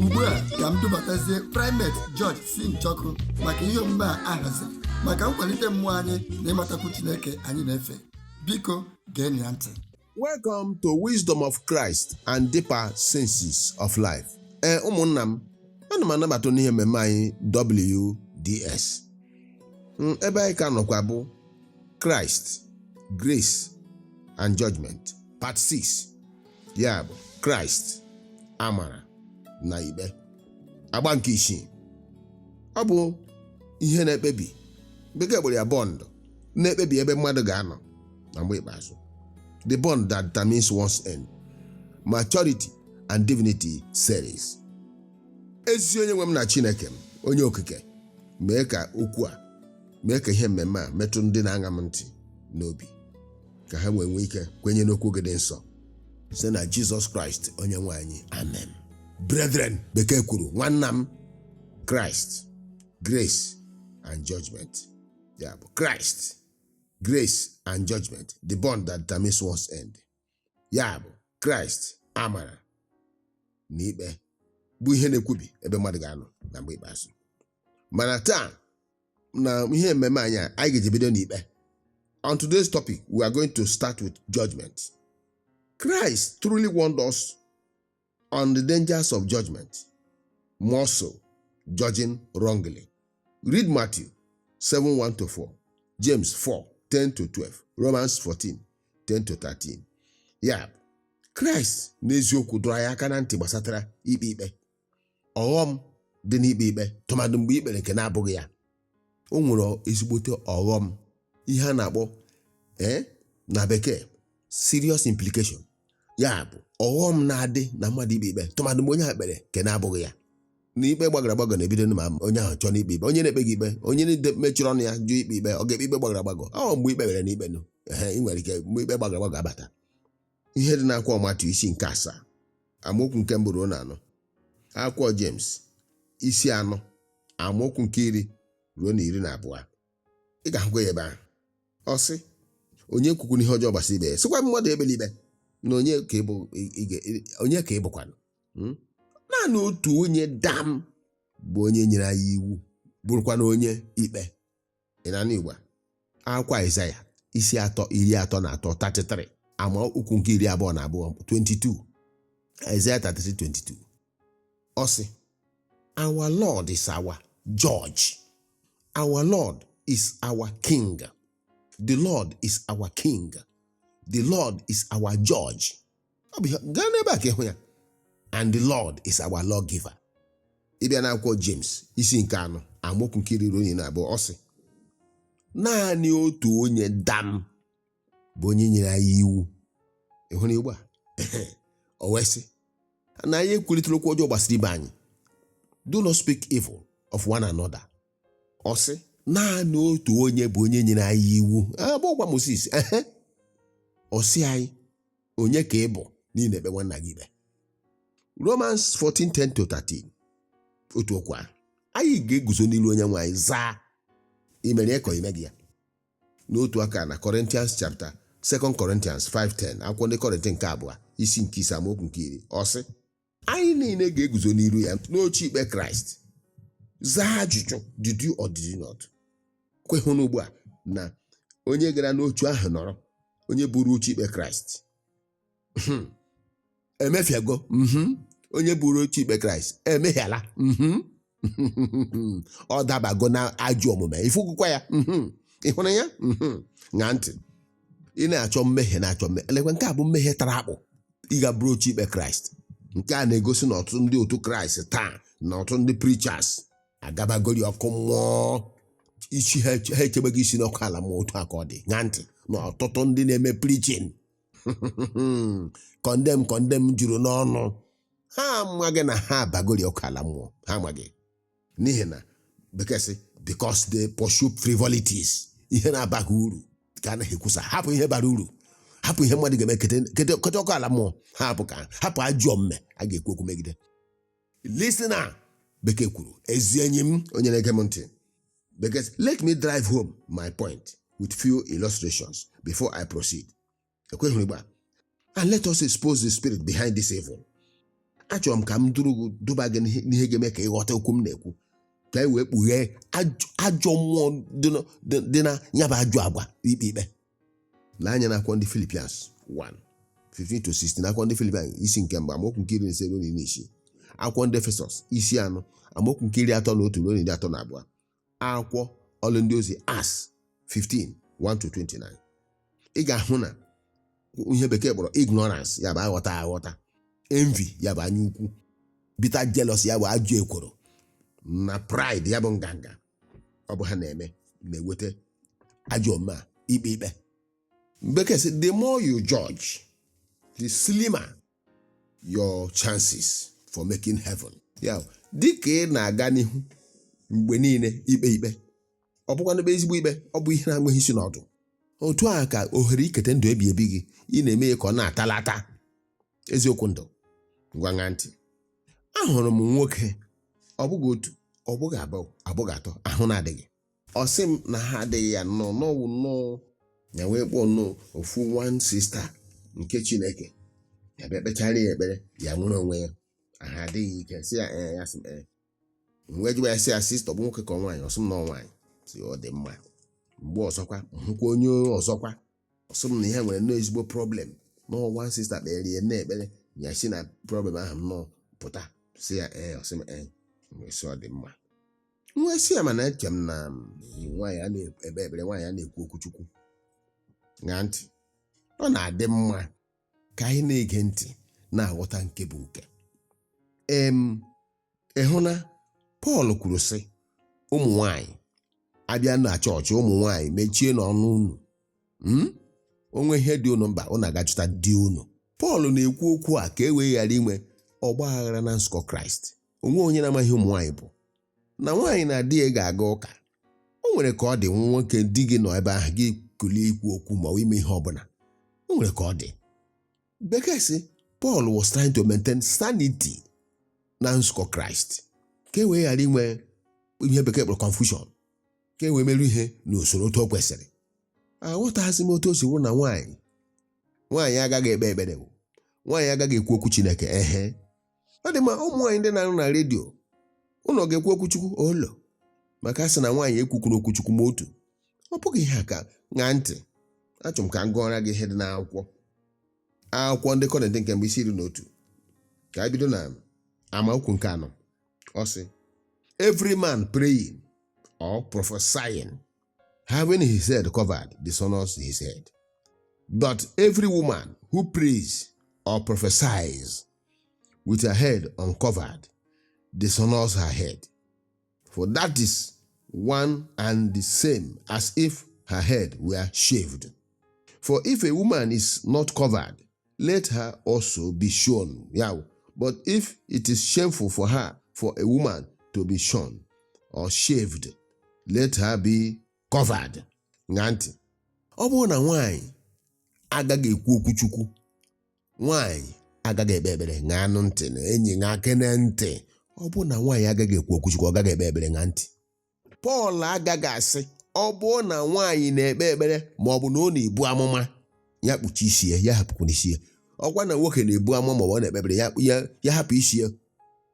ugbu a ka m dubatazie primate George C. Njọkụ maka ihe omume a ahaziri maka nkwalite mmụọ anyị na ịmatakwu Chineke anyị na-efe biko geenụ ya ntị Welcome to Wisdom of Christ and Deeper Senses of Life. Ee ụmụnna m, ana m anabata n'ihe mmemme anyị WDS. Mm, Ebe anyị ka nọkwa bụ Christ, Grace and Judgment, Part 6. ya bụ kraịst amara na ikpe agba nke isii ọ bụ ihe na-ekpebi bekee kpọrọ ya bond na-ekpebi ebe mmadụ ga-anọ na mgbe ikpeazụ the bond that determines one's end maturity and divinity series ezi onye nwe m na chineke m onye okike mee ka okwu a mee ka ihe mmemme a metụ ndị na-aṅa m ntị n'obi ka ha wee nwee ike kwenye n'okwu gị dị nsọ site na jizọs kraịst onye nwe anyị amen brethren bekee kwuru nwanna m kraịst grace and judgment ya bụ kraịst grace and judgment the bond that determines one's end ya bụ kraịst amara na ikpe bụ ihe na-ekwubi ebe mmadụ ga-anọ na mgbe ikpeazụ mana taa na ihe ememe anyị a, anyị ga-eji bido n'ikpe on today's topic we are going to start with judgment Christ truly warned us on the dangers of judgment more so judging wrongly read Matthew 7 1 to 4 James 4 10 to 12 Romans 14 10 to 13 ya bụ Kraịst n'eziokwu dọrọ anyị aka na ntị gbasatara ikpe ikpe ọghọm dị n'ikpe ikpe tụmadụ mgbe i kpere nke na-abụghị ya o nwere ezigbote ọghọm ihe a na-akpọ ee na bekee serious implication ya bụ ọghọm na-adị na mmadụ ikpe ikpe tụmadụ mgbe onye ahụ kpere nke na-abụghị ya na ikpe gbagọrọ agbagọ na-ebido ma onye ahụ chọọ n'ikpe ikpe onye na-ekpeghị ikpe onye mechiri ọnụ ya jụ ikpe ikpe ọ ga-ekpe ikpe gbagọrọ agbagọ ọ mgbe ikpe kpere n'ikpe nụ ị nwere ike mgbe ikpe gbagọrọ agbagọ abata ihe dị n'akwụkwọ Matiu isi nke asaa amaokwu nke mbụ ruo na anọ akwụkwọ James isi anọ amaokwu nke iri ruo na iri na abụọ ị ga-ahụkwa ya ebe ahụ ọ sị onye ekwukwana ihe ọjọọ gbasara ibe ya sịkwa mmadụ ekpela ikpe na onye ka ị bụ- ị- ị ga- ị- onye ka ị bụkwanụ Hmm? naanị otu onye dam bụ onye nyere anyị iwu bụrụkwanụ onye ikpe ị na n'igba akwụkwọ Aịzaya isi atọ iri atọ na atọ 33 ama okwu nke iri abụọ na abụọ 22 Aịzaya 33 22 ọ sị our Lord is our judge our Lord is our king the Lord is our king the Lord is our judge ọ bụ ihe gaa n'ebe a ka ị hụ ya and the lord is our law giver ị bịa na akwụkwọ james isi nke anọ amaokwu nke iri ruo na iri na abụọ ọ sị naanị otu onye dam bụ onye nyere anyị iwu ị hụrụ ugbu a o wee sị na anyị ekwurịtala okwu ọjọọ gbasara ibe anyị do not speak evil of one another ọ sị naanị otu onye bụ onye nyere anyị iwu abụọkwa moses ehe ọ sị anyị onye ka ị bụ na ị na-ekpe nwanna gị ikpe romans 14:10 to 13 otu okwu ahụ anyị ga-eguzo n'iru onye nwe anyị zaa i mere ya ka ọ i meghị ya n'otu aka na Corinthians chapter 2 Corinthians 5:10 akwụkwọ ndị Kọrịntị nke abụọ isi nke ise amaokwu nke iri ọ sị anyị niile ga-eguzo n'iru ya n'oche ikpe kraịst zaa ajụjụ did you or did you not kwehụ n'ugbu a na onye gara n'oche ahụ nọrọ onye buru oche ikpe kraịst Mhm. emefiago mhm. onye buru oche ikpe kraịst emehiala mhm. ọ dabago na ajọ omume ị fụgokwa ya mhm. ị hụrụ ya Mhm. ṅaa ntị ị na-achọ mmehie na-achọ mmehie elekwa nke a bụ mmehie tara akpụ ịga buru oche ikpe kraịst nke a na-egosi na ọtụtụ ndị otu kraịst taa na ọtụtụ ndị preachers agabagori ọkụ mmụọ isi ha eche- ha echebeghị isi n'ọkụ ala mmụọ otu a ka ọ dị ṅaa ntị na ọtụtụ ndị na-eme preaching condemn condemn juru n'ọnụ ha amaghị na ha abagori ọkụ ala mmụọ ha amaghị n'ihi na bekee sị because they pursue frivolities ihe na-abaghị uru ka ha na-ekwusa hapụ ihe bara uru hapụ ihe mmadụ ga-eme kete kete- kete ọkụ ala mmụọ ha hapụ ka hapụ ajọ omume a ga-ekwu okwu megide listener bekee kwuru ezi enyi m onye na-ege m ntị Bekee sị let me drive home my point with few illustrations before I proceed. Kwehụ n'ugbu a. And let us expose the spirit behind this evil. Achọrọ m ka m duru gị duba gị n'ihe n'ihe ga-eme ka ị ghọta okwu m na-ekwu ka e wee kpughee ajọ- ajọ mmụọ dị na- dị- dị na ya bụ ajọ agwa ikpe ikpe lee anya na akwụkwọ ndị Philippians 1 15-16 akwụkwọ ndị Philippians isi nke mbụ amaokwu nke iri na ise ruo na iri na isii akwụkwọ ndị Efesọs isi anọ amaokwu nke iri atọ na otu ruo na iri atọ na abụọ akwụkwọ ọlụ ndị ozi Acts 15 1-29 ị ga-ahụ na ihe bekee kpọrọ ignorance ya bụ aghọta aghọta envy ya bụ anya ukwu bitter jealous ya bụ ajọ ekworo na pride ya bụ nganga ọ bụ ha na-eme na-eweta ajọ omume a ikpe ikpe bekee sị the more you judge the slimmer your chances for making heaven ya bụ, dịka ị na-aga n'ihu mgbe niile ikpe ikpe ọ bụkwanụ ikpe ezigbo ikpe ọ bụ ihe na-enweghị isi na ọdụ otu a ka ohere ikete ndụ ebi ebi gị ị na-eme ya ka ọ na-atala ata eziokwu ndụ ngwa ṅaa ntị ahụrụ m nwoke ọ bụghị otu ọ bụghị abụọ ọ bụghị atọ ahụ na-adịghị ọ sị m na ahụ adịghị ya nnọọ na ọ wụ nnọọ ya wee kpọọ nnọọ ofu one sista nke chineke ya bịa kpechara ya ekpere ya nwere onwe ya ahụ adị ya ike sị ya ee ya sị m ee m wee jụwa ya sị ya sista ọ bụ nwoke ka ọ nwaanyị ọ sị m na ọ nwaanyị m sị ọ dị mma mgbe ọzọkwa m hụkwa onye ọzọkwa ọ sị m na ya nwere nnọọ ezigbo problem na ọ one sista kpeere ya nnọọ ekpere ya si na problem ahụ nnọọ pụta m sị ya ee ọ sị m ee m wee sị ọ dị mma m wee sị ya mana eche m na nwaanyị anaghị ekpe ekpere nwaanyị anaghị ekwu okwu chukwu ṅaa ntị ọ na-adị mma ka anyị na-ege ntị na-aghọta nke bụ nke em ị hụ na Pọl kwuru sị ụmụ nwanyị a bịa na chọọchị ụmụ nwanyị mechienụ ọnụ unu hmm? o nwee ihe dị unu mkpa unu agaa jụta di unu Pọl na-ekwu okwu a ka e wee ghara inwe ọgba aghara na nzukọ Kraịst o nweghị onye na-amaghị ihe ụmụ nwanyị bụ na nwaanyị na di ya ga-aga ụka o nwere ka ọ dị nwa nwoke di gị nọ ebe ahụ gị kulie ikwu okwu ma ọ bụ ime ihe ọ bụla o nwere ka ọ dị bekee sị Paul was trying to maintain sanity na nzukọ Kraịst ka e wee ghara inwe ihe bekee kpọrọ confusion ka e wee merụ ihe n'usoro otu o kwesịrị aghọtaghịzi m otu o si wụrụ na nwaanyị nwaanyị agaghị ekpe ekpere nwaanyị agaghị ekwu okwu Chineke ehe ọ dị mma ụmụ nwaanyị ndị na-arụ na redio unu ga-ekwu okwu chukwu olo maka a sị na nwaanyị ekwukwana okwu chukwu ma otu ọ bụghị ihe a ka ṅaa ntị achọrọ m ka m gụọra gị ihe dị n'akwụkwọ akwụkwọ ndị kọrịntị nke mbụ isi iri na otu ka a bido na amaokwu nke anọ ọ sị every man praying or prophesying having his head covered dishonors his head but every woman who prays or prophesies with her head uncovered, dishonors her head. For that is one and the same as if her head were shaved. For if a woman is not covered, let her also be shorn. Yeah. But if it is shameful for her, for a woman to be shorn or shaved, let her be covered. Ṅaa ntị. Ọ bụrụ na nwaanyị agaghị ekwu okwuchukwu nwaanyị agaghị ekpe ekpere ṅaanụ ntị na enyi ṅaakene ntị ọ bụrụ na nwaanyị agaghị ekwu okwu chukwu ọ gaghị ekpe ekpere ṅaa ntị pọl agaghị asị ọ bụrụ na nwaanyị na-ekpe ekpere ma ọ bụ na ọ na-ebu amụma ya kpuchi isi ya ya hapụkwana isi ya ọ kwanụ nwoke na-ebu amụma ma ọ na-ekpe ekpere ya hapụ isi ya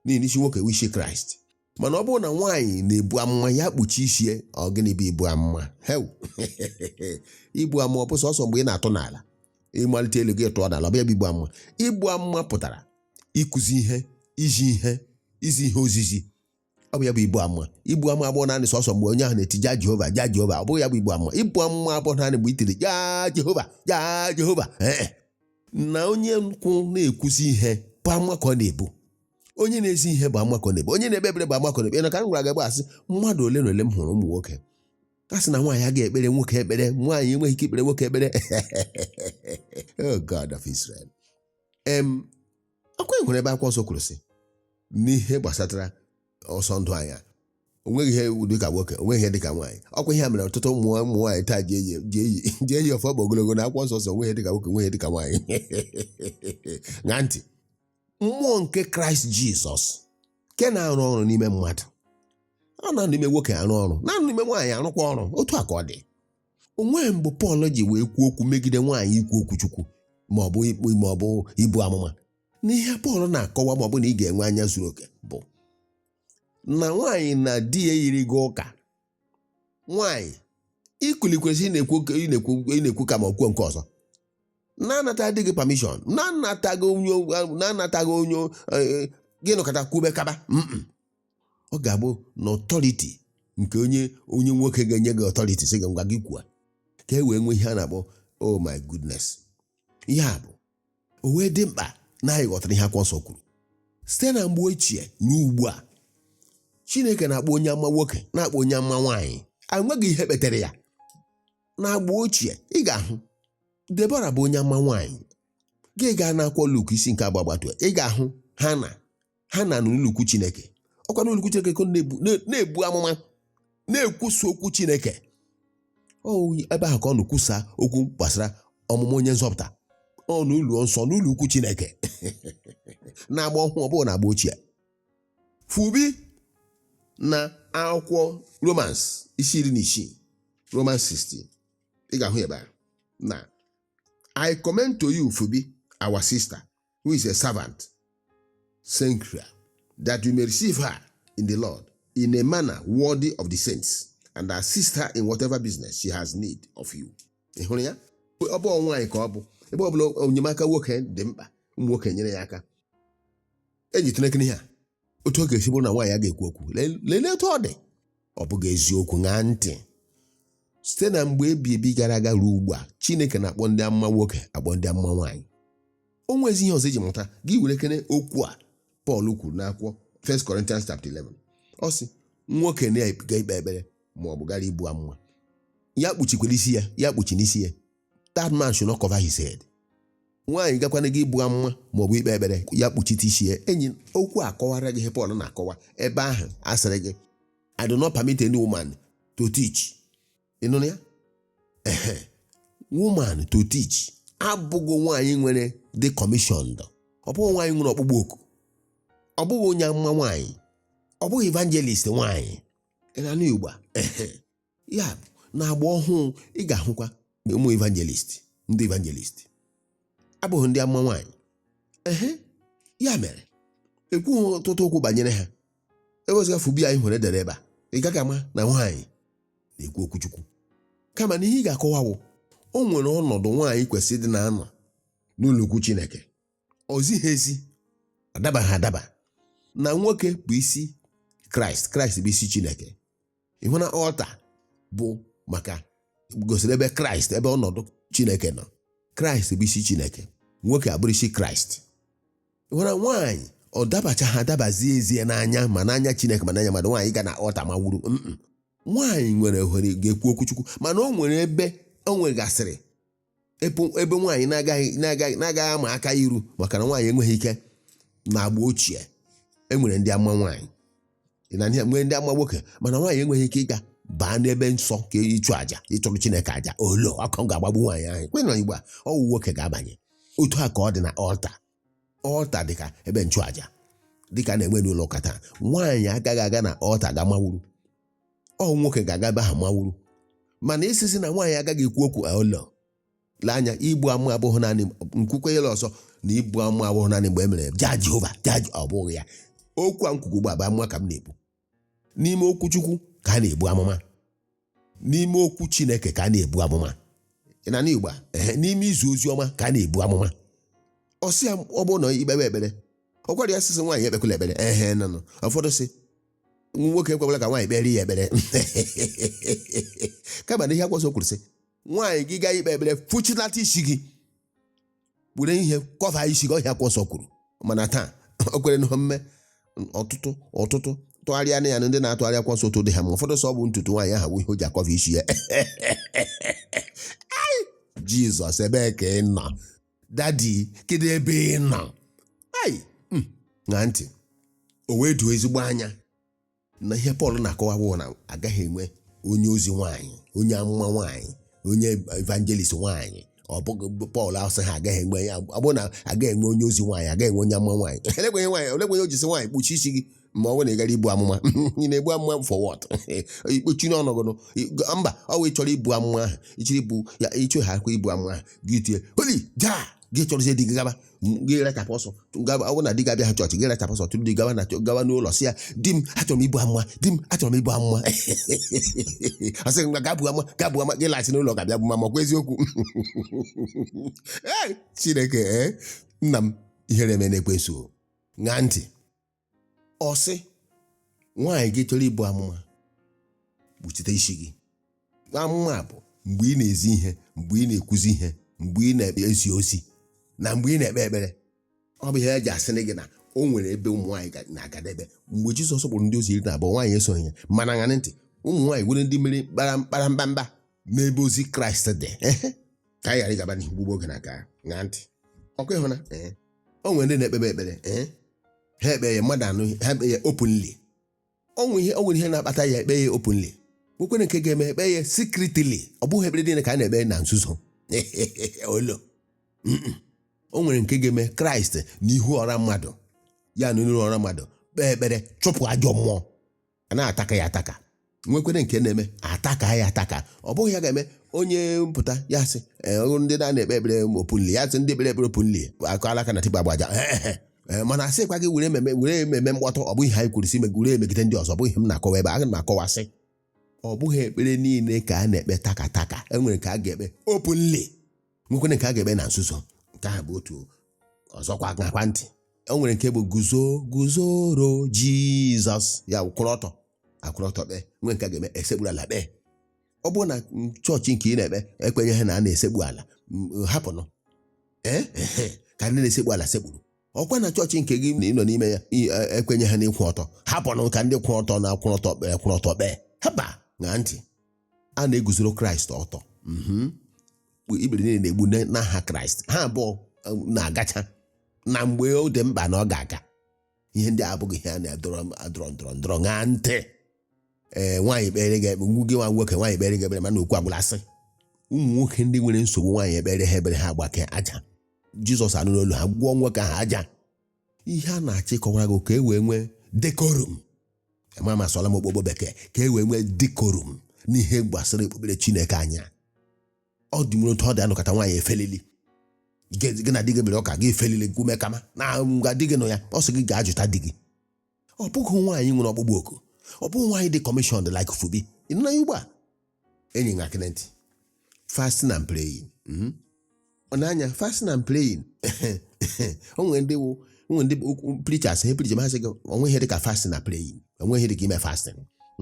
n'ihi isi nwoke bụ isi kraịst mana ọ bụrụ na nwaanyị na-ebu amụma ya kpuchi isi ya ọ gịnị bụ ibu amụma hew ibu amụma ọ bụ sọsọ mgbe ị na-atụ n'ala ị malite elu gị tụọ n'ala ọ bụ ya bụ ibu amụma ibu amụma pụtara ịkụzi ihe izi ihe izi ihe ozizi ọ bụ ya bụ ibu amụma ibu amụma abụghị naanị sọsọ mgbe onye ahụ na-eti ja jehova ja jehova ọ bụghị ya bụ ibu amụma ibu amụma abụghị naanị mgbe i tiri ja jehova ja jehova ee na onye nkụ na-akụzi ihe bụ amụma ka ọ na-ebu onye na-ezi ihe bụ amụma ka ọ na-ebu onye na-ekpe ekpere bụ amụma ka ọ na-ebu na ka m gwara gị gbasara mmadụ ole na ole m hụrụ ụmụ nwoke a sị na nwaanyị agaghị ekpere nwoke ekpere nwaanyị enweghị ike ikpere nwoke ekpere oh God of Israel em ọkwa o nwere ebe akwụkwọ nsọ kwuru sị n'ihe gbasatara ọsọ ndụ a na onweghị ihe iwu dịka nwoke onweghị ihe dịka nwaanyị ọkwa ihe a mere ọtụtụ ụmụ ụmụ nwaanyị taa ji eyi ji eyi ji eyi afe ụkwụ ogologo na akwụkwọ nsọ sị onweghị dịka nwoke onweghị dịka nwaanyị ṅaa ntị mmụọ nke kraịst jizọs nke na-arụ ọrụ n'ime mmadụ ọ na-anọ n'ime nwoke arụ ọrụ na-anọ n'ime nwaanyị arụkwa ọrụ otu a ka ọ dị o nweghị mgbe pọl ji wee kwuo okwu megide nwaanyị ikwu okwu chukwu ma ọ bụ ikpu ma ọ bụ ibu amụma na ihe pọl na-akọwa ma ọ bụ na ị ga-enwe anya zuru oke bụ na nwaanyị na di ya yiri gaa ụka nwanyị ikuli kwesịrị ịna-ekwu ị na-ekwu ị na-ekwu ka m kwuo nke ọzọ na-anata di gị pamishọn na-anataghị onye na-anataghị onye eh, gị nọkata kwube kaba Mm-mm. ọ ga-abụ na ọtọriti nke onye onye nwoke ga-enye gị ọtọriti sị gị ngwa gị kwuo ka e wee nwee ihe a na-akpọ oh my goodness ya bụ o wee dị mkpa na anyị ghọtara ihe akwụkwọ nsọ kwuru site na mgbe ochie ruo ugbu a chineke na-akpọ onye amụma nwoke na-akpọ onye amụma nwaanyị enweghị ihe kpetara ya na agba ochie ị ga-ahụ debora bụ onye amụma nwaanyị gị gaa n'akwụkwọ luk isi nke abụọ gbatuo ị ga-ahụ hana hana n'ụlọukwu chineke ọkwa n'ụlọukwu chineke ka ọ na-ebu na- na-ebu amụma na-ekwusa okwu chineke ọ ebe ahụ ka ọ na-ekwusa okwu gbasara ọmụmụ onye nzọpụta ọ n'ụlọ nsọ n'ụlọ ukwu chineke n'agba ọhụụ ọbụghị na agba ochie phoebe na akwụkwọ romans isi iri na isii romans 16 ị ga-ahụ ebe a na i commend to you phoebe our sister who is a servant, Cenchrea, that you may receive her in the Lord in a manner worthy of the saints, and assist her in whatever business she has need of you. Ị hụrụ ya? Ọ bụ nwaanyị ka ọ bụ ebe ọ bụla enyemaka nwoke dị mkpa ụmụ nwoke nyere ya aka eji tụnekere ihe a otu ọ ga-esi bụrụ na nwaanyị a ga-ekwu okwu Lee- lelee otu ọ dị ọ bụghị eziokwu ṅaa ntị site na mgbe ebi ebi gara aga ruo ugbu a chineke na-akpọ ndị amụma nwoke akpọ ndị amụma nwaanyị o nwezi ihe ọzọ iji mụta gị werekene okwu a pọl kwuru n'akwụkwọ 1 Corinthians chapter 11 ọ sị nwoke na-aga ikpe ekpere ma ọ bụ gara ibu amụma ya kpuchikwala isi ya ya kpuchina isi ya that man should not cover his head nwaanyị gakwanụ ga ibu amụma maọbụ ikpe ekpere ya kpuchite isi ya enyi okwu akọwara gị ihe Pọl na-akọwa ebe ahụ a sịrị gị I do not permit any woman to teach ịnụ ya ehe woman to teach abụghị nwaanyị nwere the commission ọ bụghị nwaanyị nwere ọkpụkpọ oku ọ bụghị onye amụma nwaanyị ọ bụghị evangelist nwaanyị ị na-anụ Igbo a ehe ya bụ na agba ọhụụ ị ga-ahụkwa na ụmụ evangelist ndị evangelist abụghị ndị amụma nwaanyị ehe ya mere ekwughị ọtụtụ okwu banyere ha ewezụga Phoebe anyị hụrụ e dere ebe a ị gaghị ama na nwaanyị na-ekwu okwuchukwu kama na ihe ị ga-akọwa wụ o nwere ọnọdụ nwaanyị kwesịrị ịdị na-anọ n'ụlọukwu Chineke o zighị ezi ọ dabaghị adaba na nwoke bụ isi Kraịst Kraịst bụ isi Chineke ịhụ na altar bụ maka gosiri ebe kraịst ebe ọnọdụ chineke nọ kraịst bụ isi chineke nwoke abụrụ isi kraịst ịhụ na nwaanyị ọ dabachaghị adaba zie ezie n'anya ma n'anya chineke ma n'anya mmadụ nwaanyị ga na altar mawuru mm nwaanyị nwere ohere ga-ekwu okwuchukwu mana o nwere ebe o nwegasịrị ebe nwaanyị na-agaghị ama aka iru maka na nwaanyị enweghị ike na agba ochie e nwere ndị amụma nwaanyị e nwere ndị amụma nwoke mana nwaanyị enweghị ike ịga baa n'ebe nsọ ka ịchụ àjà ịchụrụ chineke àjà olo ọkụ ga-agbagbu nwaanyị ahụ kwe na igbo a ọ wụ nwoke ga-abanye otu a ka ọ dị na altar altar dị ka ebe nchụaja dị ka a na-enwe n'ụlọ ụka taa nwaanyị agaghị aga na altar ga mawuru ọ nwoke ga-aga ebe ahụ mawuru mana ịsị sị na nwaanyị agaghị ekwu okwu olo lee anya ibu amụma abụghị naanị m kwukwee ya ọzọ na ibu amụma abụghị naanị mgbe e mere jaa jehova jaa Je- ọ bụghị ya okwu a m kwuga ugbu a bụ amụma ka m na-ebu n'ime okwu Chukwu ka a na-ebu amụma n'ime okwu Chineke ka a na-ebu amụma ị na-anụ Igbo a ehe n'ime izi ozi ọma ka a na-ebu amụma ọ sị ya ọ bụrụ na i kpebe ekpere ọ gwara ya sị sị nwaanyị ekpekwala ekpere ehe na-anụ ụfọdụ sị nwa nwoke ekwekwala ka nwaanyị kpere ya ekpere kama na ihe akwụkwọ nsọ kwuru sị nwaanyị gị gaa ikpe ekpere fụchilata isi gị were ihe kọva isi gị ọ ihe akwụkwọ nsọ kwuru mana taa o kwere n'ihe mme ọtụtụ ọtụtụ tụgharịa na ya na ndị na-atụgharị akwụkwọ nsọ otu dị ha mma ụfọdụ sị ọ bụ ntutu nwaanyị ahụ wụ ihe o ji akọva isi ya Ai, jizọs ebee ka ị nọ dadi kedu ebe ị nọ ai mm, ṅaa ntị o wee doo ezigbo anya na ihe pọl na-akọwa bụ na agaghị enwe onye ozi nwaanyị onye amụma nwaanyị onye evangelist nwaanyị ọ bụghị pọl asịghị agaghị enwe ya ọ bụrụ na agaghị enwe onye ozi nwaanyị agaghị enwe onye amụma nwaanyị olekwanụ ihe o ji sị nwaanyị kpuchie isi gị ma ọ bụrụ na ị gara ibu amụma ị na-ebu amụma for what ikpuchi n'ọnọgụnụ mba ọ bụ ị chọrọ ibu amụma ahụ ị chọrọ ibu ya ịchọ ha akwa ibu amụma ahụ gị tie oli jaa gị chọrọzie di gị gaba gị rachapụ ọsọ gawa- ọ bụrụ na di gị abịaghị chọọchị gị rachapụ ọsọ chọrọ di gawa na chọ- gawa n'ụlọ sị ya di m achọrọ m ibu amụma di m achọrọ m ibu amụma ọ sị gị ngwa gaa bu amụma gaa bu amụma gị laghachi n'ụlọ ga-abịa bu amụma ọkwa eziokwu Ee, chineke ee, nna m ihere emeela ekwensu ṅaa ntị ọ sị nwaanyị gị chọrọ ibu amụma kpuchite isi gị amụma bụ mgbe ị na-ezi ihe mgbe ị na-ekwuzi ihe mgbe ị na-ezi ozi na mgbe ị na-ekpe ekpere ọ bụ ihe e ji asịrị gị na o nwere ebe ụmụ nwaanyị ga- na-agadebe mgbe Jizọs kpọrọ ndị ozi iri na abụọ nwaanyị esoghị ya mana ṅaanụ ntị ụmụ nwaanyị nwere ndị mere mkpara mkpara mkpamkpa n'ebe ozi Kraịst dị ka anyị ghara ịgaba n'ihu gbugbuo oge na ka ṅaa ntị ọkwa ị hụ na ee o nwere ndị na-ekpebe ekpere ee ha ekpe ya mmadụ anụ ha ekpe ya openly o nwere ihe o nwere ihe na-akpata ya ekpe ya openly nwekwere nke ga-eme ekpe ya secretly ọ bụghị ekpere niile ka a na-ekpe na nzuzo olo Mm-mm. o nwere nke ga-eme kraịst n'ihu ọra mmadụ ya nọ n'ihu ọra mmadụ kpee ekpere chụpụ ajọ mmụọ a na-ataka ya ataka nwekwere nke na-eme ataka ya ataka ọ bụghị ihe a ga-eme onye pụta ya sị "Ee, ọrụ ndị na-ekpe ekpere openly ya sị ndị ekpere ekpere openly akụ alaka na tiba agbaja Ee, mana a sịkwa gị were ememe were ememe mkpọtụ ọ bụghị ihe anyị kwuru sị ime were emegide ndị ọzọ ọ bụghị ihe m na-akọwa ebe aga m akọwasị ọ bụghị ekpere niile ka a na-ekpe taka taka enwere nke a ga-ekpe openly nwekwere nke a ga-ekpe na nzuzo nke ahụ bụ otu ọzọkwa ṅakwa ntị o nwere nke bụ guzo guzoro jizọs ya bụ kwụrụ ọtọ akwụrụ ọtọ kpee nwee nke a ga-eme e sekpuru ala kpee ọ bụrụ na chọọchị nke ị na-ekpe ekwenyeghị na a na-esekpu ala m, hapụnụ ee ehe, ka ndị na-esekpu ala sekpuru ọkwa na chọọchị nke gị na ị nọ n'ime ya i- e- ekwenyeghị n'ịkwụ ọtọ hapụnụ ka ndị kwụrụ ọtọ na-akwụrụ ọtọ kpee kwụrụ ọtọ kpee haba ṅaa ntị a na-eguzoro kraịst ọtọ mhm. ikpere niile na-egbu na- n'aha kraịst ha abụọ um, na-agacha na mgbe ọ dị mkpa na ọ ga-aga ihe ndị a abụghị ihe a na-adọrọ adọrọ ndọrọ ndọrọ ṅaa ntị ee nwaanyị kpere gị ekpe nwoke nwa nwoke nwaanyị kpere gị ekpere mana okwu agwụla asị ụmụ nwoke ndị nwere nsogbu nwaanyị ekpeere ha ekpere ha agbakee aja jizọs anụrụ olu ha gwọọ nwoke ahụ aja ihe a na-achọ ịkọwara gị ka e wee nwee decorum ma m asụọla m okpokpo bekee ka e wee nwee decorum n'ihe gbasara okpukpere chineke anya ọ dị nwere otu ọ dị anụkọta nwaanyị efelili gị na di gị mere ọka gị efelili gume kama na nga di gị nọ ya ọ sị gị gaa jụta di gị ọ bụghị nwaanyị nwere ọkpụkpọ oku ọ bụghị nwaanyị dị commissioned like Phoebe ị nụla ya ugbu a enyi ṅaakene ntị fasting and praying mhm. ị na-anụ ya fasting and praying o nwere ndị wụ o nwere ndị okwu- preachers he preach ma ha sị gị o nweghị ihe dị ka fasting na praying o nweghị ihe dị ka ime fasting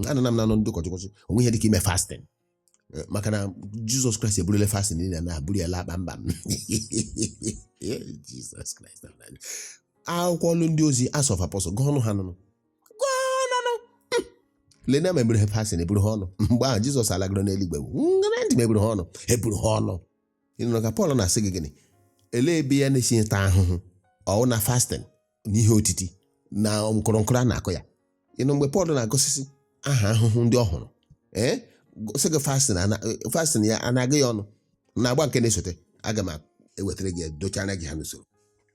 anọ na m na-anụ ndị ụkọchukwu sị, o nweghị ihe dị ka ime fasting Eh, maka na jizọs kraịst eburule fasting niile na o buru ya laa kpamkpam Eh, jizọs kraịst of Nazareth. akwụkwọ ọlụ ndị ozi Acts of Apostles gụọnụ ha nụnụ gụọnụ nụ leenụ ma eburu ha fasting eburu ha ọnụ mgbe ahụ jizọs alagoro n'eluigwe ṅaanụ ntị ma eburu ha ọnụ eburu ha ọnụ ị nụrụ ka pọl na-asị gị gịnị elee ebe ya na-esi ata ahụhụ ọ wụ na fasting na ihe otiti na nkụrụnkụrụ a na-akụ ya ị nụ mgbe Pọl na-agụsịsị aha ahụhụ ndị ọ hụrụ ee sị gị fasting ana- fasting ya anaghị ya ọnụ n'agba nke na-esote aga m ewetara gị ya dochara gị ha n'usoro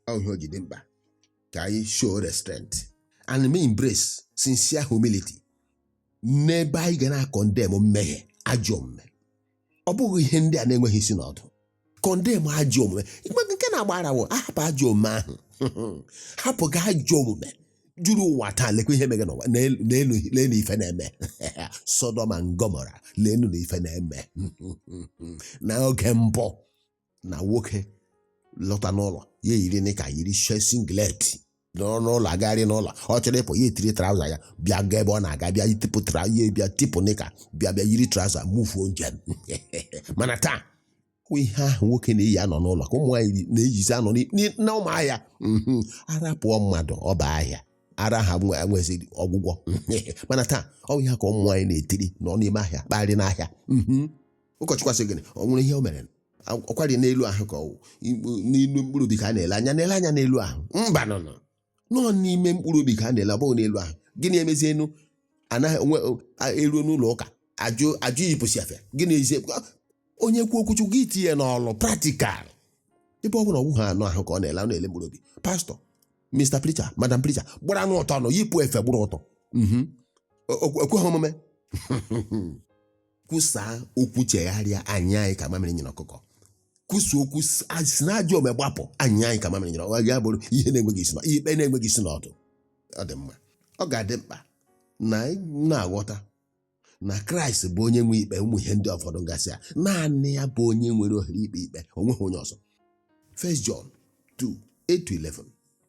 ọ ihe o ji dị mkpa ka anyị show restraint and ma embrace sincere humility n'ebe anyị ga na-acondemn mmehie ajọ omume ọ bụghị ihe ndị a na-enweghị isi na ọdụ condemn ajọ omume nke na-agba ara wụ ahapụ ajọ omume ahụ hapụ gị ajọ omume juru ụwa taa lekwa ihe mege n'ụwa leenụ leenụ leenụ ife na-eme Sodom and Gomorrah leenụ na ife na-eme n'oge mbụ na nwoke lọta n'ụlọ ya eyiri nịka yiri she singlet nọrọ n'ụlọ agagharị n'ụlọ ọ chọrọ ịpụ ya etiri traụza ya bịa gaa ebe ọ na-aga bịa tipụ tra ya bịa tipụ nịka bịa bịa yiri traụza mufuo njem mana taa ọ ihe ahụ nwoke na-eyi anọ n'ụlọ ka ụmụ nwaanyị na-eyizi anọ n'i- n'i- n'ọma ahịa mhm. ara pụọ mmadụ ọ baa ahịa ara ahụ nwe- enwezighị ọgwụgwọ mana taa ọ bụ ihe ka ụmụ nwaanyị na-etiri nọ n'ime ahịa kparị n'ahịa mhm. ụkọchukwu asị gịnị o nwere ihe o mere ọ kwarị n'elu ahụ ka ọ wụ n'elu mkpụrụ obi ka a na-ele anya na-ele anya n'elu ahụ mba no no no n'ime mkpụrụ obi ka a na-ele ọ bụghị n'elu ahụ gịnị emezie unu anaghị onwe eruo n'ụlọ ụka ajụ ajụ iyipụsị efe gịnị ezie onye kwuo okwu chukwu gị tinye n'ọlụ practical ebe ọ bụ na ọ wụghị anụ ahụ ka ọ na-ele ọ na-ele mkpụrụ obi pastọ mr preacher madam preacher gbaranụ ọtọ nụ yipụ efe gbara ọtọ ekweghị omume kwusaa okwu chegharịa anyịa anyị ka mamịrị nyịrị ọkụkọ kwusa okwu si- a- si na ajọ ome gbapụ anyịa anyị ka mamịrị nyịrị ọkụkọ ya bụrụ ihe na-enweghị isi na ihe ikpe na-enweghị isi na ọdụ ọ dị mma ọ ga-adị mkpa na anyị na-aghọta na kraịst bụ onye nwe ikpe ụmụ ihe ndị ụfọdụ gasị a naanị ya bụ onye nwere ohere ikpe ikpe o nweghị onye ọzọ 1 John 2 8 to 11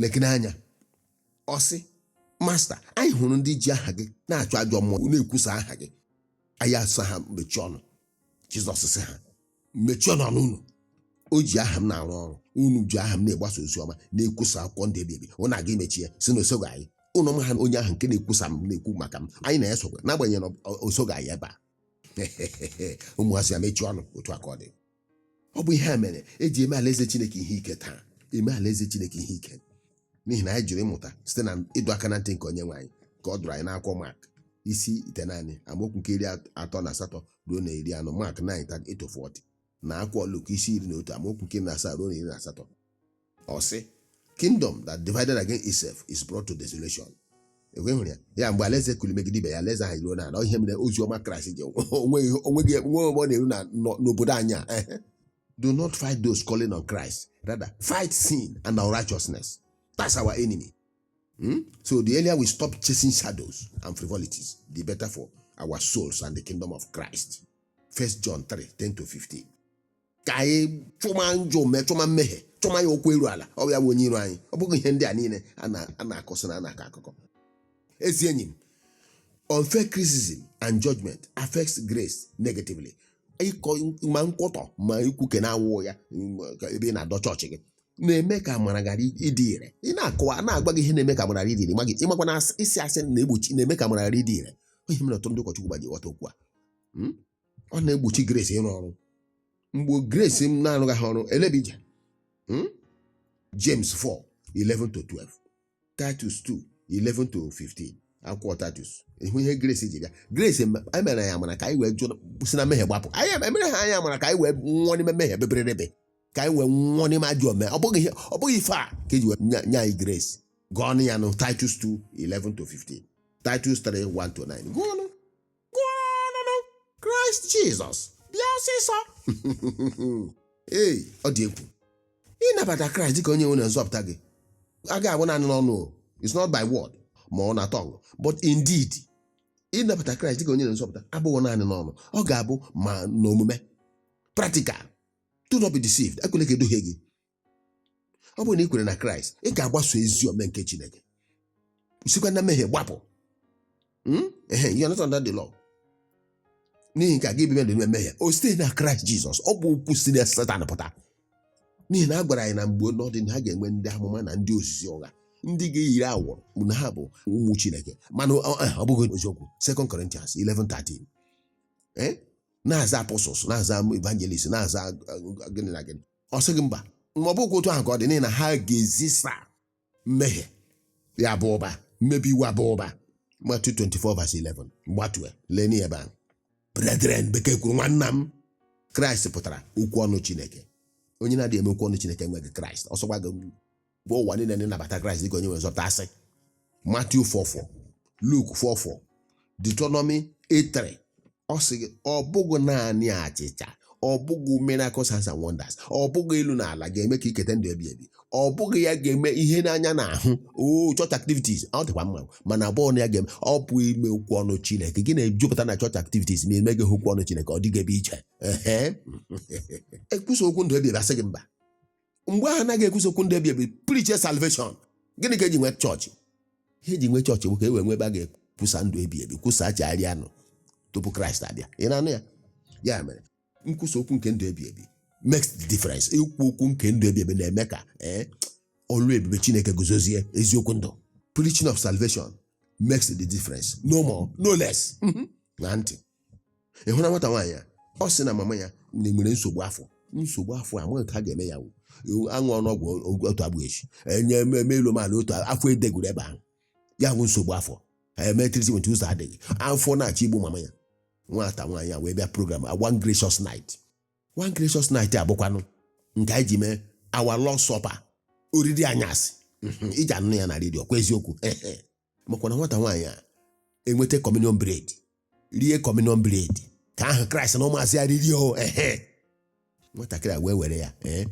lekene anya ọ sị masta anyị hụrụ ndị ji aha gị na-achụ ajọ mmụọ na-ekwusa aha gị anyị asị ha mechie ọnụ jizọs sị ha mechie ọnụ ọnụ unu o ji aha m na-arụ ọrụ unu ji aha m na-egbasa ozi ọma na-ekwusa akwụkwọ ndụ ebighị ebi unu aga imechi ya sị na o soghị anyị unu amaha onye ahụ nke na-ekwusa m na-ekwu maka m anyị na ya sokwa n'agbanyeghị na ọ- ọ- o soghị anyị ebe a unu asị ya mechie ọnụ otu aka ọ dị ọ bụ ihe a mere eji eme alaeze chineke ihe ike taa eme alaeze chineke ihe ike n'ihi na anyị jụrụ ịmụta site na ịdọ aka na ntị nke onyenwe anyị ka ọ dọrọ anyị n'akwụkwọ mak isi itenaanị amaokwu nke iri atọ na asatọ ruo na iri anọ mak 9 38 40 na akwụkwọ luk isi iri na otu amaokwu nke iri na asaa ruo na iri na asatọ ọ sị kingdom that divided against itself is brought to desolation ekwe hụrụ ya ya mgbe alaeze kuli megide ibe ya alaeze ahụ eruo n'ala ọ ihe mere ozi ọma kraịst ji enweghị enweghị nwe ọganiru na- nọ- n'obodo anyị a ehe. do not fight those calling on christ rather fight sin and unrighteousness that's our enemy Hmm? so the earlier we stop chasing shadows and frivolities the better for our souls and the kingdom of christ first john 3 10 to 15 ka anyị chụma njọ mee chụma mmehie chụma ya ụkwụ eru ala ọ bụ ya bụ onye iro anyị ọ bụghị ihe ndị a niile a na- a na-akọsị na a na-akọ akụkọ ezi enyi m unfair criticism and judgment affects grace negatively ịkọ ma nkwutọ ma ikwuke na-awụ ya mm, ka ebe ị na-adọ chọọchị gị na-eme ka amara ghara ịdị ire ị na-akọwa a na-agwa gị ihe na-eme ka amara ghara ịdị ire ma gị ị makwa na asị- ịsị asị na-egbochi na-eme ka amara ghara ịdị ire ihe mere ọtụtụ ndị ụkọchukwu ga-eji ghọta okwu a Mm? ọ na-egbochi grace ịrụ ọrụ mgbe grace m na-arụghị ha ọrụ elebija Hmm? James 4 11 to 12 Titus 2 11 to 15 akwụkwọ Titus ị hụ ihe Grace ji bịa Grace em- anyị mere anyị amara ka anyị wee jụ si na mmehie gbapụ anyị em- emere ha anyị amara ka anyị wee nwụọ n'ime mmehie beberebe ka anyị wee nwụọ n'ime ajọ omume ọ bụghị ihe- ọ bụghị ife a ka eji wee nye nye anyị Grace gụọnụ ya nụ Titus 2 11 to 15 Titus 3 1 to 9 gụọnụ kraịst jizọs bịa ọsịsọ ee ọ dị egwu ịnabata kraịst dịka onye nwe na nzọpụta gị agaghị abụ naanị n'ọnụ o it's not by word ma ọ na tongue but in deed ịnabata kraịst dịka onye na nzọpụta abụghị naanị n'ọnụ ọ ga-abụ ma n'omume practical do not be deceived ekwele ka e duhie gị ọ bụrụ na ị kwere na kraịst ị ga-agbaso ezi omume nke chineke sikwa na mmehie gbapụ Hmm? Ehe, you are not under the law. n'ihi nke a gị bibe dị n'ime mmehie o site na kraịst jizọs ọ bụ okwu si na setan pụta n'ihi na a gwara anyị na mgbe n'ọdịnihu ha ga-enwe ndị amụma na ndị ozizi ụgha ndị ga-eyiri awọrọ na ha bụ ụmụ chineke mana ọ ọ- ọ bụghị eziokwu 2 Corinthians 11:13 Eh? na-aza apostles na-aza evangelist na-aza uh, gịnị na gịnị ọ sị gị mba ma ọ bụkwa otu ahụ ka ọ dị n'ihi na ha ga-ezisa mmehie ya aba ụba mmebi iwu aba ụba Matthew 24 verse 11 gbatue lee anya ebe ahụ brethren bekee kwuru nwanna m kraịst pụtara okwu ọnụ chineke onye na-adịghị eme okwu ọnụ chineke enweghị kraịst ọ sọkwa gị gwa ụwa niile na ị nabata kraịst dịka onye nwere nzọpụta asị Matthew 4:4 Luke 4:4 deuteronomy 8:3 ọ sị gị ọ bụghị naanị achịcha ọ bụghị miracle signs and wonders ọ bụghị elu na ala ga-eme ka i keta ndụ ebi ebi ọ bụghị ya ga-eme ihe n'anya na-ahụ o church activities ọ dịkwa mma mana ọ bụghị na ya ga-eme ọ bụ ime okwu ọnụ chineke gị na-ejupụta na church activities ma emeghị okwu ọnụ chineke ọ dịghị ebe i je ehe e kwusa okwu ndụ ebi ebi a sị gị mba mgbe ahụ a naghị ekwusa okwu ndụ ebi ebi preach salvation gịnị ka e ji nwee chọọchị ihe e ji nwee chọọchị bụ ka e wee nwee ebe a ga-ekwusa ndụ ebi ebi kwusa chegharịanụ tupu kraịst abịa ị na-anụ ya ya mere nkwusa okwu nke ndụ ebi ebi makes the difference ikwu okwu nke ndụ ebi ebi na-eme ka ee ọlụ ebube chineke guzozie eziokwu ndụ preaching of salvation makes the difference no more no less ṅaa ntị ị hụla nwata nwaanyị a ọ sị na mama ya na- nwere nsogbu afọ nsogbu afọ a amaghị otu a ga-eme ya wụ a ṅụọnụ ọgwụ o- otu agbụ echi enye e mee elu mee ala otu a- afọ edegoro ebe ahụ ya bụ nsogbu afọ e mee treatment ụzọ adịghị afọ na-achọ igbu mama ya nwata nwaanyị a wee bịa program a one gracious night one gracious night a bụkwanụ nke anyị ji mee our Lord's supper oriri anyasị Mhm, i ji anụ ya na redio kwa eziokwu ehe. makwa na nwata nwaanyị a enweta communion bread rie communion bread nke ahụ kraịst na ụmụazụ ya riri o ehe nwatakịrị a wee were ya ee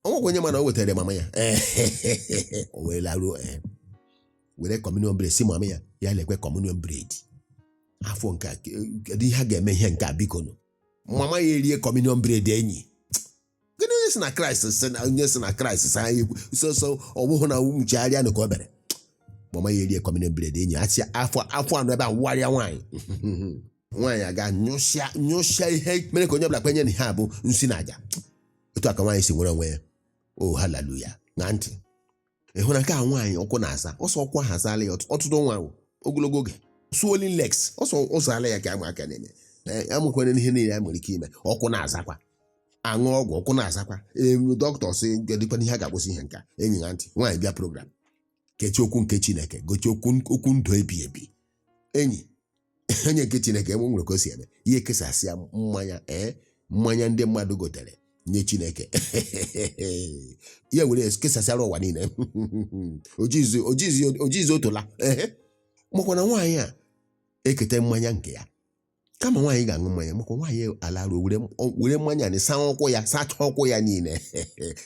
o nwekwa onye ma na o wetara mama ya ee o wee laruo ee were communion bread sị mama ya ya lekwa communion bread afọ nke a ke- kedu ihe a ga-eme ihe nke a bikonụ mama ya erie communion bread enyi kedu onye sị na kraịst sị na onye sị na kraịst sị anyị ekwu sọsọ ọ wụhụ na chegharịanụ ka o bere mama ya erie communion bread enyi ya sịa afọ afọ anọ ebe a wagharịa nwaanyị nwaanyị agaa nyụsịa nyụsịa ihe mere ka onye ọbụla kwenye na ihe a bụ nsi na aja otu a ka nwaanyị si nwere onwe ya o haleluya ṅaa ntị ịhụ na nke a nwaanyị ụkwụ na-aza ọsọ ụkwụ ahụ azaala ya ọtụ- ọtụtụ ọnwa ahụ ogologo oge swollen legs ọsọ ọ zaala ya ka ama aka na-eme Ee, amụkwere ihe niile a nwere ike ime ụkwụ na-azakwa a ṅụọ ọgwụ ụkwụ na-azakwa elu dọkịta sị gedịkwana ihe a ga-akwụsị ihe nka enyi ṅaa ntị nwaanyị bịa program gechie okwu nke chineke gechie okwu okwu ndụ ebi ebi enyi onye nke chineke enwe nwere ka o si eme ya ekesasịa mmanya ee mmanya ndị mmadụ gotere nye chineke ya were ya kesasịara ụwa niile ojizi ojizi ojizi otola ehe makwa na nwaanyị a eketa mmanya nke ya kama nwaanyị ga-aṅụ mmanya makwa nwaanyị alaruo were were mmanya na saa ụkwụ ya sachaa ụkwụ ya niile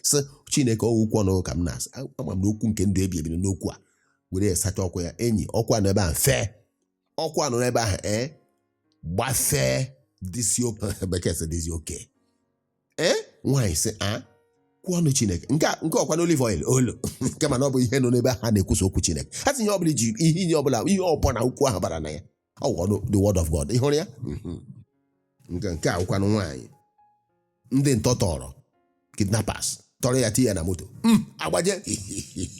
sị chineke ọ wụ okwu ọnụ ka m na-asa ama m na okwu nke ndụ ebi ebi n'okwu a were ya sachaa ụkwụ ya enyi ụkwụ nọ ebe ahụ mfe ụkwụ nọ n'ebe ahụ ee gbafee dịzie okay bekee sị dịzie okay ee nwaanyị sị okwu ọnụ chineke nke a- nke ọkwa na olive oil olu nke mana ọ bụ ihe nọ n'ebe ha na-ekwusa okwu chineke ha sị ihe ọbụla iji ihe ihe ọbụla ihe ọbụla okwu ahụ bara na ya ọ wụ ọnụ the word of god ị hụrụ ya Mhm. nke nke a wụkwanụ nwaanyị ndị ntọ tọrọ kidnappers tọrọ ya tinye ya na moto agbaje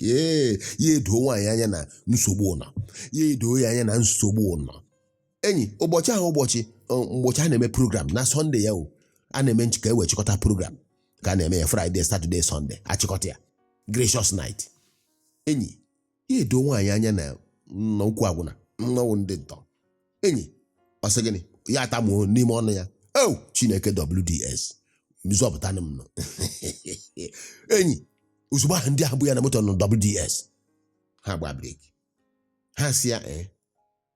ya edoo nwaanyị anya na nsogbu ọ nọ ya edoo ya anya na nsogbu ọ nọ enyi ụbọchị ahụ ụbọchị ọ, ụbọchị a na-eme program na Sunday ya o a na-eme nch- ka e wee chịkọta program ka a na-eme ya Friday Saturday Sunday achịkọta ya gracious night enyi ya edoo nwaanyị anya na nna okwu agwụna na ọ wụ ndị ntọ enyi ọ sị gịnị ya atamuo n'ime ọnụ ya o chineke wds zọpụtanụ m nụ enyi ozugbo ahụ ndị ahụ bu ya na moto nụ wds ha agba breki ha sị ya ee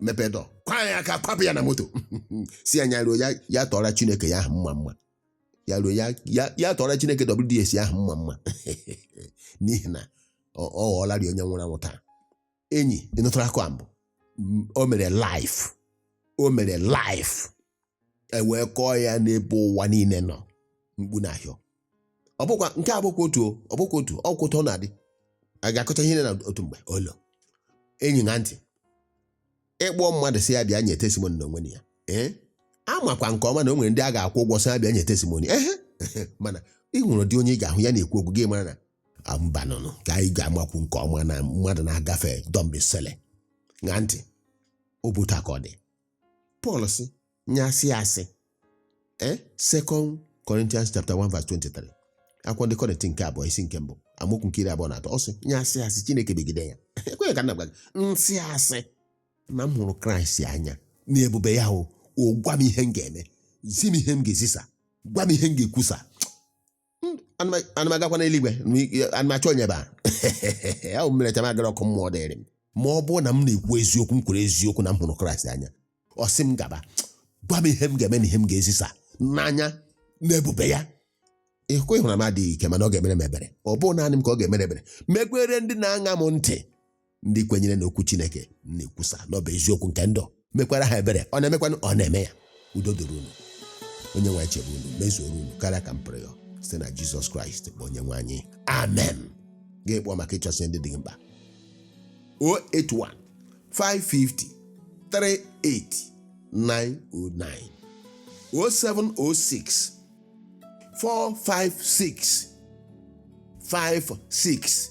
mepee door kwaa ya aka kwapụ ya na moto sị ya ya ruo ya ya tụọra chineke ya ahụ mmamma ya ruo ya ya ya tụọra chineke wds ahụ mmamma n'ihi na ọ ọ ghọọlarị onye nwụrụ anwụ taa enyi ị nụtara akụ a mbụ M- o mere live o mere live e wee kọọ ya n'ebe ụwa niile nọ mkpu na-ahịọ ọ bụkwa nke a bụkwa otu ọ bụkwa otu ọ bụ otu a ọ na-adị a ga-akọcha ihe na otu mgbe olo enyi ṅaa ntị ị kpọọ mmadụ sị ya bịa nye testimony n'onwe ya ee amakwa nke ọma na o nwere ndị a ga-akwụ ụgwọ sị ha bịa nye testimony ehe mana e nwere ụdị onye ị ga-ahụ ya na-ekwu okwu gị mara na mbanụnụ ka anyị ga-amakwu nke ọma na mmadụ na-agafe dọmbisele ṅaa ntị ọ bụ otu a ka ọ dị pọl sị ya sị asị ee second corinthians chapter 1 verse 23 akwụkwọ ndị kọrịntị nke abụọ isi nke mbụ amaokwu nke iri abụọ na atọ ọ sị ya sị asị chineke megide ya ekweghị ka m na-agwa gị m sị asị na m hụrụ kraịst anya na ebube ya o o gwa m ihe m ga-eme zi m ihe m ga-ezisa gwa m ihe m ga-ekwusa ana m agakwa n'eluigwe ana m achọ onye ebe ahụ m merecha m agara ọkụ mmụọ dịrị m ma ọ bụrụ na m na-ekwu eziokwu m kwuru eziokwu na m hụrụ kraịst anya ọ sị m gaba gwa m ihe m ga-eme na ihe m ga-ezisa n'anya n'ebube ya ịhụkwa ịhụra m adịghị ike mana ọ ga-emere m ebere ọ bụ naanị m ka ọ ga-emere ebere mekwere ndị na-aṅa m ntị ndị kwenyere n'okwu chineke na-ekwusa na ọ bụ eziokwu nke ndụ mekwara ha ebere ọ na-emekwanụ ọ na-eme ya udo dịrị unu onye nwe anyị chebe unu mezuoro unu karịa ka m pụrụ ịyọ site na jizọs kraịst bụ onye nwe anyị amen ga-akpọ maka ịchọsị ndị dị gị mkpa 081 550 38909 0706 456 56